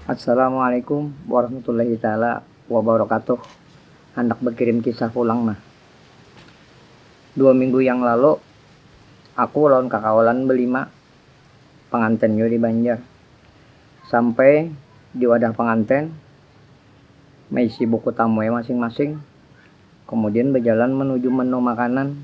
Assalamualaikum warahmatullahi taala wabarakatuh handak bakirim kisah pulang nah dua minggu yang lalu aku lawan kakawalan balima pangantin jua di banjar sampai di wadah pangantin maisi buku tamu'e masing-masing kamudian bajalan manuju menu makanan.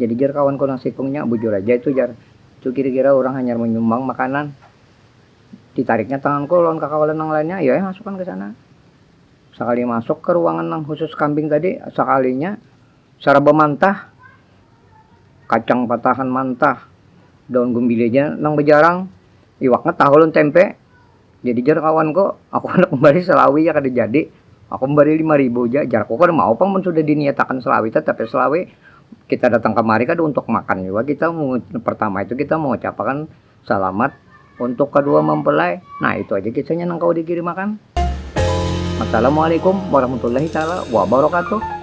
Jadi jar kawanku nang sikung nya, bujur aja itu jar, itu kira-kira urang hanyar manyumbang makanan. Ditariknya tanganku lawan kakawalan nang lainnya, ayo ai masukan kesana. Sakali masuk ka ruangan nang khusus kambing tadi, sakalinya saraba mantah. Kacang patahan mantah, daun gumbili aja nang bajarang, iwaknya tahu lawan tempe. Jadi jar kawanku, aku handak mambari selawi ja kada jadi, aku mambari lima ribu ja jarku, kada mau pang mun sudah diniatakan selawi tatapi selawi kita datang kamari kada untuk makan jua kita pertama itu kita mengucapakan salamat untuk kadua mempelai nah itu aja kisahnya nang kawa dikirim akan. Wassalamualaikum warahmatullahi taala wabarakatuh.